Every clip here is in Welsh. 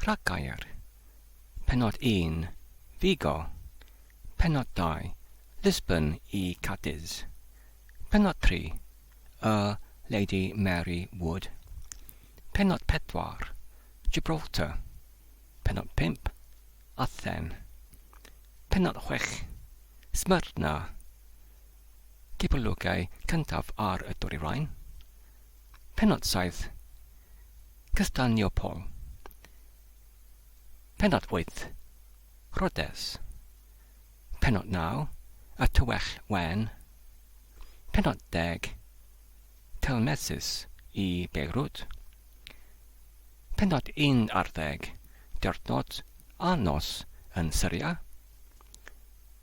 Rhaggair, Pennod un, Vigo, Pennod dau, Lisbon i Cadiz, Pennod tri, Y Lady Mary Wood, Pennod pedwar, Gibraltar, Pennod pump, Athen, Pennod chwech, Smyrna, Cipolwgau cyntaf ar y Dwyrain, Pennod saith, Cyddanio Paul. Pennod wyth, Rhodes. Pennod naw, Y Tywyll Wen. Pennod deg, Telmesus i Beirut. Pennod un ar ddeg, Diwrnod a nos yn Syria.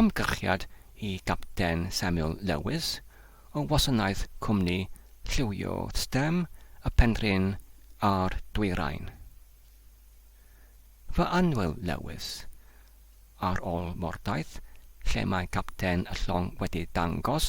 Ymgyrchiad i Gapten Samuel Lewis o wasanaeth cwmni lliwio stem y Penrhyn a'r Dwyrain. Fy annwyl Lewis, ar ôl mordaith lle mae capten y llong wedi dangos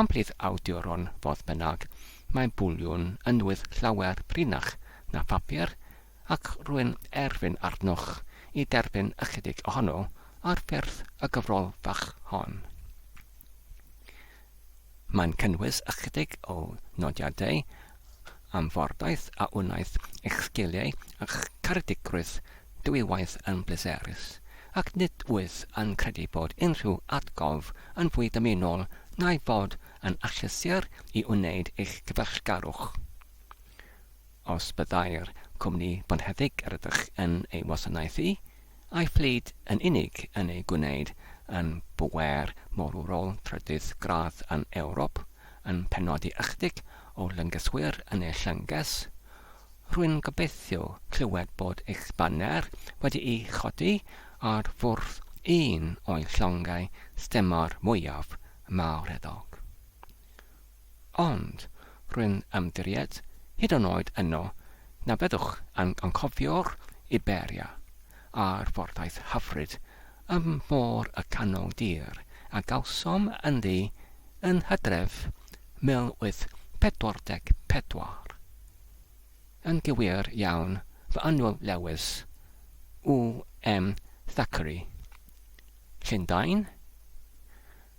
Am brif awduron, fodd bynnag, mae bwliwn yn wyth llawer prinach na phapur, ac rwy'n erfyn arnoch i derbyn ychydig ohono ar ffurf y gyfrol fach hon. Mae'n cynnwys ychydig o nodiadau am fordaith a wnaeth eich sgiliau a'ch caredigrwydd dwywaith yn bleserus, ac nid wyf yn credu bod unrhyw atgof yn fwy dymunol na'i fod yn achlysur i wneud eich cyfeillgarwch. Os byddai'r cwmni bonheddig rydych yn ei wasanaethu A'i phlyd yn unig yn ei gwneud yn bŵer morwrol trydydd gradd yn Ewrop, yn penodi ychydig o lyngyswyr yn ei llynges. Rwy'n gobeithio clywed bod eich baner wedi'i chodi ar fwrdd un o'i llongau stemor mwyaf mawreddog. Ond, rwy'n ymddiried, hyd yn oed yno, na fyddwch yn anghofio'r Iberia a'r ffordaith hyfryd ym Môr y Canol Dir a gawsom ynddi yn hydref 1844. Yn gywir iawn, fy annwyl Lewis, UM Thackeray. Llundain?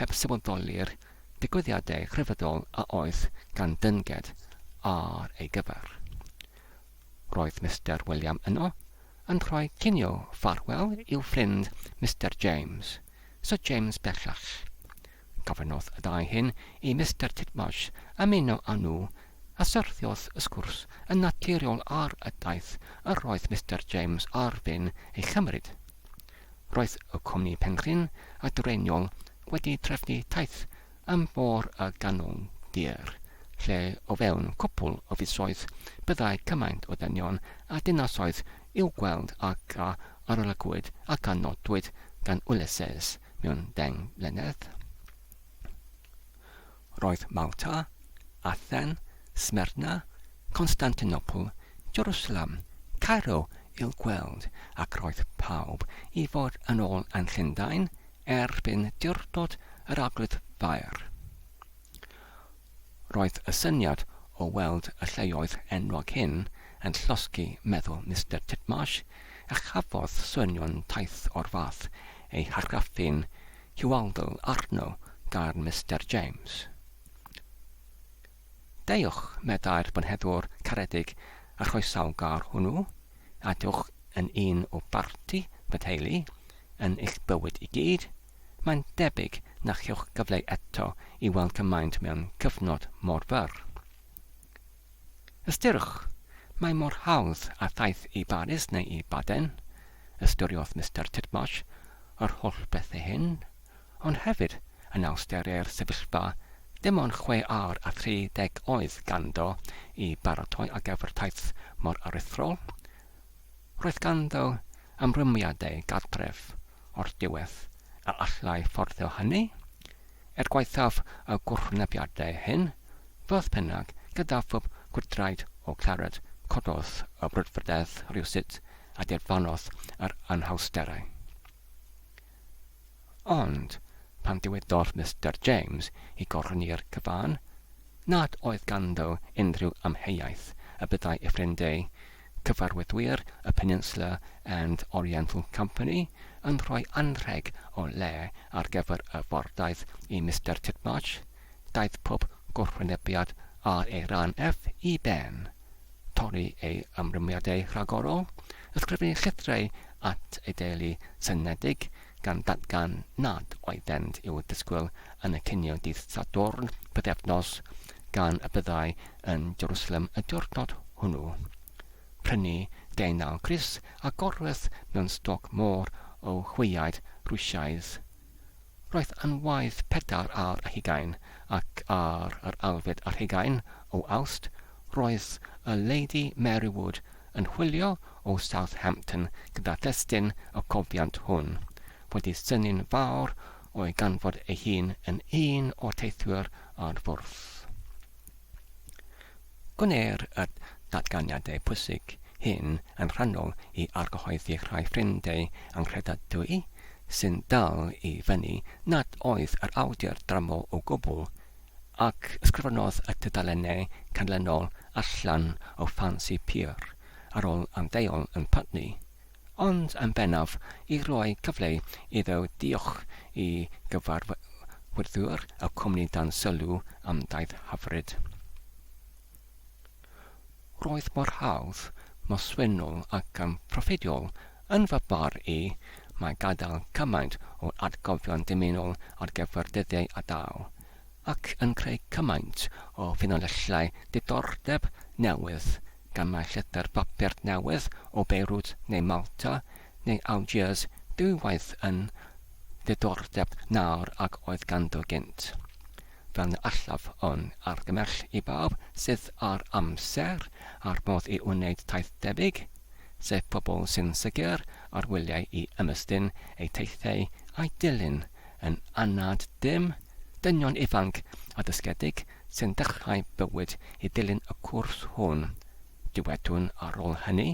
heb sefydoli'r digwyddiadau rhyfeddol a oedd gan Dynged ar ei gyfer. Roedd Mister William yno, yn rhoi cinio ffarwel i'w ffrind Mister James, Syr James bellach. Gofynnodd y ddau hyn i Mister Titmarsh ymuno â nhw, a syrthiodd y sgwrs yn naturiol ar y daith yr oedd Mister James ar fin ei chymryd. Roedd y cwmni Penrhyn a Dwreiniol wedi trefnu taith am fôr y Ganwyn Dur, lle o fewn cwpwl o fisoedd byddai cymaint o ddynion a dinasoedd i'w gweld ag a arolygwyd ac a nodwyd gan Ulysses mewn deng mlynedd. Roedd Malta, Athen, Smyrna, Constantinopl, Jerusalem, Cairo i'w gweld ac roedd pawb i fod yn ôl yn Llundain erbyn diwrnod yr Arglwydd Fair. Roedd y syniad o weld y lleoedd enwog hyn yn llosgi meddwl Mister Titmarsh a chafodd swynion taith o'r fath eu hargraffu'n Hualdl arno gan Mister James. Deuwch, meddai'r bynheddwr caredig a chroesawgar hwnnw, a dewch yn un o barti fy theulu, yn eich bywyd i gyd, mae'n debyg na chewch gyfle eto i weld cymaint mewn cyfnod mor fyr. Ystyriwch, mae mor hawdd â thaith i Baris neu i Baden, ystyriodd Mister Titmarsh yr holl bethau hyn, ond hefyd yn awsteri'r sefyllfa, dim ond chwe awr a thri deg oedd ganddo i baratoi ar gyfer taith mor aruthrol. Roedd ganddo ymrwymiadau gartref o'r diwedd a allai fforddio hynny, er gwaethaf y gwrthwynebiadau hyn, fodd bynnag, gyda phwb gwydraid o Claret cododd y brwdfrydedd rywsut a dirfannodd yr anhawsterau. Ond, pan ddywedodd Mister James i Gorlyniwr Cyfan nad oedd ganddo unrhyw amheuaeth y byddai ei ffrind ei Cyfarwyddwyr y Peninsula and Oriental Company yn rhoi anrheg o le ar gyfer y fordaith i Mister Titmarsh, daeth pob gwrthwynebiad ar ei ran ef i ben. Torri ei ymrwymiadau rhagorol, ysgrifennu llythrau at ei deulu synedig gan ddatgan nad oeddent i'w disgwyl yn y cinio dydd Sadwrn pythefnos gan y byddai yn Jerusalem y diwrnod hwnnw. Prynu deunaw grys a gorwedd mewn stoc môr o chweiaid Rwsiaidd. Roedd anwaith pedair ar hugain, ac ar yr alfed ar hugain o Awst roedd y Lady Mary Wood yn chwilio o Southampton gyda thestun y cofiant hwn, wedi synnu'n fawr o'i ganfod ei hun yn un o'r teithwyr ar fwrdd. Gwneir y datganiadau pwysig hyn yn rhannol i argyhoeddi rhai ffrind ei anghredadwy sy'n dal i fyny nad oedd yr awdur dramor o gwbl, ac ysgrifennodd y tudalennau canlynol allan o ffansi pur ar ôl ymddeol yn Putney, ond yn bennaf i roi cyfle iddo ddiolch i gyfarwyddwr y cwmni dan sylw am daith hyfryd. Roedd mor hawdd, mor swynol ac yn proffediol, yn fy marn i, mae gadael cymaint o atgofion dymunol ar gyfer dyddiau a daw, ac yn creu cymaint o ffynonellau diddordeb newydd gan mai llythyr papur newydd o Beirut neu Malta neu Algiers dwy waith yn ddiddordeb na'r ag oedd ganddo gynt. Fel na allaf un argymell i bawb sydd â'r amser a'r modd i wneud taith debyg, sef pobl sy'n sicr ar wyliau i ymestyn eu teithiau a'u dilyn yn anad dim, dynion ifanc a dysgedig sy'n dechrau bywyd i ddilyn y cwrs hwn, dywedwn ar ôl hynny,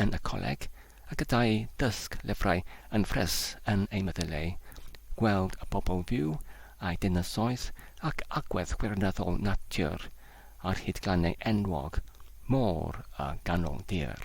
yn y coleg, a gyda'u dysg lyfrau yn ffres yn eu meddyleu, gweld y bobl fyw a'u dinasoedd ac agwedd gwirioneddol natur ar hyd glannau enwog, môr a ganol dir.